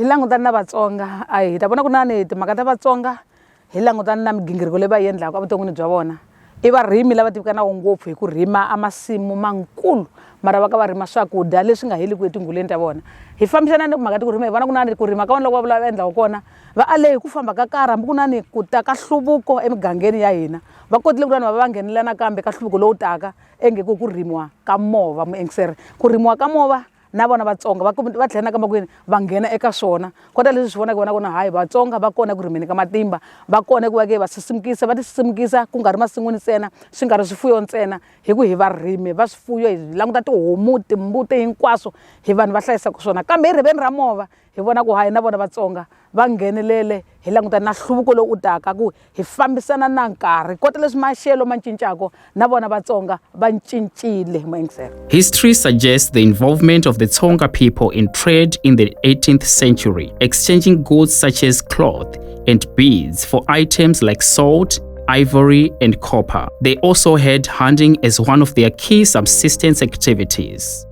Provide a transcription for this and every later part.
hi langutani na vatsonga a hi ta vona ku nani timhaka ta vatsonga hi langutani na migingiriko leyi va yi endlaka evuton'wini bya vona i varimi lava tivikanaka ngopfu hi ku rima a masimu mankulu mara va ka va rima swakudya leswi nga heliku etinghuleni ta vona hi fambisana ni mhaka ti ku rima hi vona ku nani ku rima ka vona loko va vula va endlaka kona va ale hi ku famba ka karhi hambi ku nani ku ta ka hluvuko emigangeni ya hina va kotile ku va va nghenelela nakambe ka hluvuko lowu taka enge ku ku rimiwa ka mova muengiseri ku rimiwa ka mova na vona vatsonga va va tlhela na ka makwini va nghena eka swona kota leswi swi vonaka vona kona hayi vatsonga va kona ku rimeni ka matimba va kona ku va ke va sisimukisa va tisisimukisa ku nga ri masin'wini ntsena swi nga ri swifuyo ntsena hi ku hi varimi va swifuyo hi languta tihomu timbuti hinkwaswo hi vanhu va hlayisaka swona kambe hi riveni ra mova hi vona ku hayi na vona vatsonga va nghenelele hi langutana na nhluvuko lowu u taka ku hi fambisana na nkarhi kota leswi maxelo ma cincako na vona vatsonga va cincile muingiselo history suggests the involvement of the tsonga people in trade in the 18th century exchanging goods such as cloth and beads for items like salt ivory, and copper. They also had hunting as one of their key subsistence activities.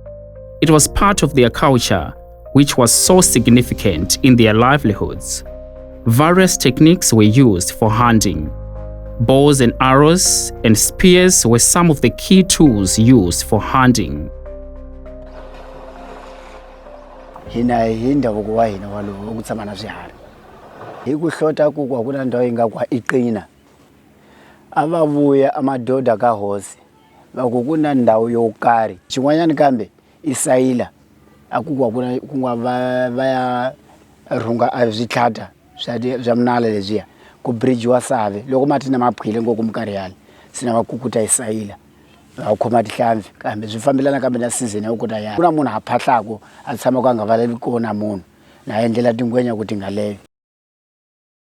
It was part of their culture which was so significant in their livelihoods. Various techniques were used for hunting. Bows and arrows and spears were some of the key tools used for hunting. hina hi ndhavuko wa hina walowo wa ku tshama na swiharhi hi ku hlota ku ku a ku na ndhawu yi nga ku i qina a va vuya amadoda ka hosi va ku ku na ndhawu yo karhi xin'wanyana kambe I sayila a ku ku na ku nga va va ya rhunga a switlhata swa swa munala lebyiya ku bridge-iwa save loko mati na ma phyile ngo ku minkarhi yale se na va kukuta hi sayila va va khoma tihlampfi kambe swi fambelana kambe na season ya ku kota ku na munhu a phahlaku a tshamaku a nga valeli ko na munhu na yendlela tingwenya ku ti nga .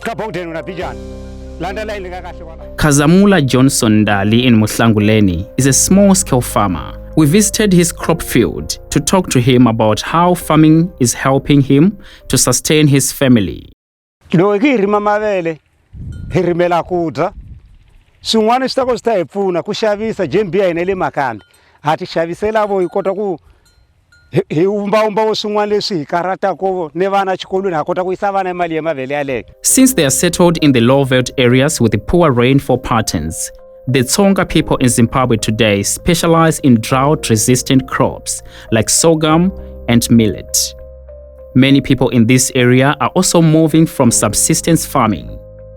Ka Bowden u na bijana. Landa layini ka kahle kwala. Khazamula Johnson Ndali in Muhlanguleni is a small scale farmer. We visited his crop field to talk to him about how farming is helping him to sustain his family. Loyi ki rima mavele, hi rimela ku dya. Swin'wana swi ta ko swi ta hi pfuna ku xavisa jembi ya hina le Makambi. Ha ti xavisela vo hi kota ku hi hi wumbawumbawo swin'wana leswi hi karhatako ni vana xikolweni ha kota ku yisa vana mali ya mavele yaleyo Since they are settled in the low veld areas with poor rainfall patterns, the Tsonga people in Zimbabwe today specialize in drought resistant crops like sorghum and millet. Many people in this area are also moving from subsistence farming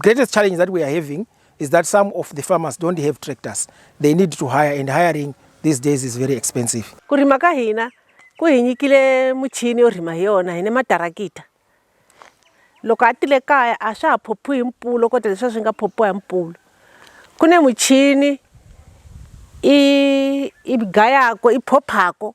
Greatest challenge that we are having is that some of the farmers don't have tractors. They need to hire and hiring these days is very expensive. Ku rima ka hina ku hi nyikile muchini yo rima hi yona hi ne matarakita. Loko a tile kaya a swa ha phophiwi hi mpfulo kota leswi swi nga phophiwa hi mpfulo. Ku ne muchini i i gayako i phophako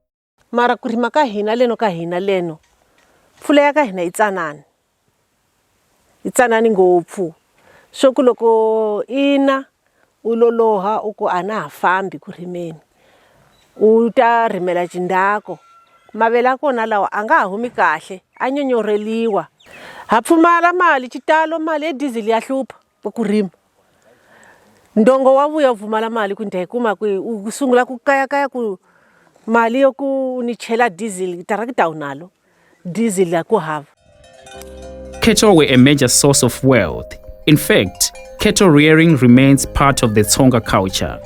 mara ku rima ka hina leno ka hina leno mpfula ya ka hina yi tsanani yi tsanani ngopfu swo ku loko i na u loloha u ku a na ha fambi ku rimeni u ta rimela jindako mavele ya kona lawa a nga ha humi kahle a nyonyorheliwa ha pfumala mali xitalo mali ya diesel ya hlupha ku ku rima ndongo wa vuya u pfumala mali ku ni ta yi kuma kwihi u sungula ku kayakaya ku mali yo ku ni chela diesel tarakita u nalo diesel a ku hava Cattle were a major source of wealth. In fact, cattle rearing remains part of the Tsonga culture.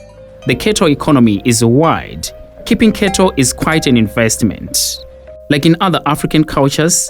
The cattle economy is wide. Keeping cattle is quite an investment. Like in other African cultures,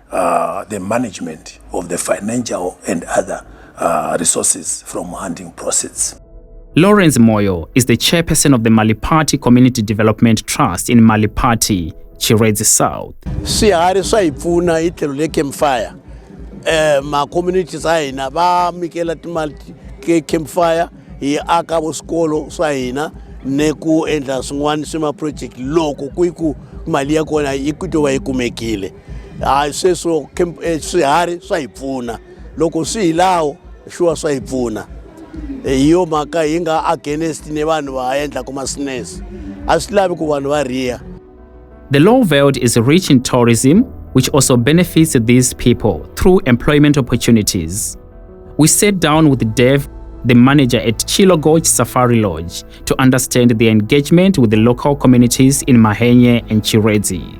uh, the management of the financial and other uh, resources from hunting proceeds. Lawrence Moyo is the chairperson of the Malipati Community Development Trust in Malipati, Chiredzi South. Swiharhi swa hi pfuna hi tlhelo le campfire. Eh ma communities a hina va mikela timali ke campfire hi aka vusikolo swa hina ne ku endla swin'wana swi ma project loko ku yi ku mali ya kona yi ku to va yi kumekile. hayi sweswo eh, swiharhi swa hi pfuna loko swi hi lawo shuwa swa hi pfuna eh, hi yo mhaka hi nga against ni vanhu va endlaka masines a swi lavi ku vanhu va riya The Law Veld is rich in tourism, which also benefits these people through employment opportunities. We sat down with Dev, the manager at Chilogoj Safari Lodge, to understand the engagement with the local communities in Mahenye and Chirezi.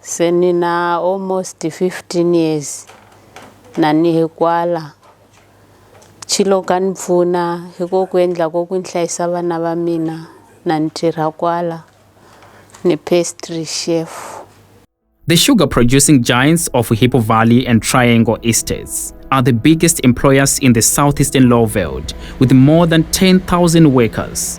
Se ni na almost 15 years na ni hi kwala chilo ka ni pfuna hi ko ku endla ko ku ni hlayisa vana va mina na ni tirha kwala ni pastry chef The sugar producing giants of Hippo Valley and Triangle Estates are the biggest employers in the southeastern Lowveld, with more than 10,000 workers.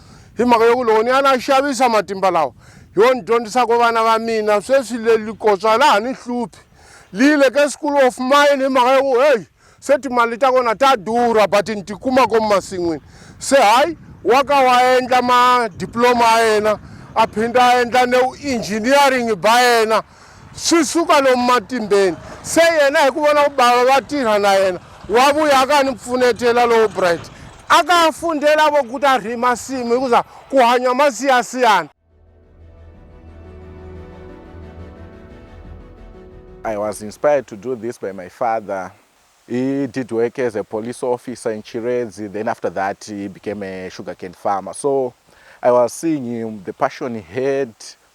hi mhaka yoku loko ni ya na xavisa matimba lawa yo ni dyondzisako vana va mina sweswi lelikotswa laha ni hluphi liyile ke school of mine hi mhaka yoku heyi se timali ta kona ta durha but ni tikuma komu masin'wini se hayi wa ka wa endla madiploma ya yena a phinda a endla ne engineering ba yena swi suka lomu matimbeni se yena hi ku vona ku bava va tirha na yena wa vuya a ka ni pfunetela lowo bright a ka fundela vo ku ta rhima simu hikuza ku hanya masiyasiyana I was inspired to do this by my father. He did work as a police officer in Chiredzi. Then after that, he became a sugarcane farmer. So I was seeing him, the passion he had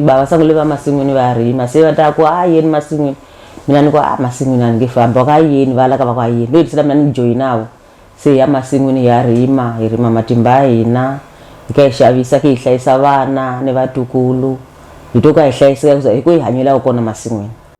bava sangule va masin'wini va rima se va ta ku a yeni masin'wini mina ni ku a masin'wini a ni nge famba ku a yeni va laka va ku a yeni no hetisela mina ni joyinavo se hi ya masin'wini hi ya rima hi rima matimba ya hina hi ka hi xavisa ki hi hlayisa vana ni vatukulu hi to ka hi hlayiseka ku za hi ku hi hanyelaka kona masin'wini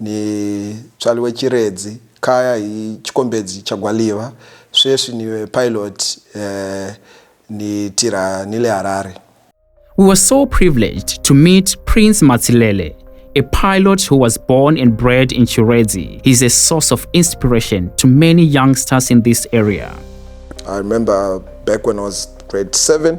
Ni tswaliwe Chiredzi kaya hi Chikombedzi cha Gwaliva, sweswi ni pilot ni tirha ni le Harare. We were so privileged to meet Prince Matsilele, a pilot who was born and bred in Chiredzi. He's a source of inspiration to many youngsters in this area. I remember back when I was grade 7,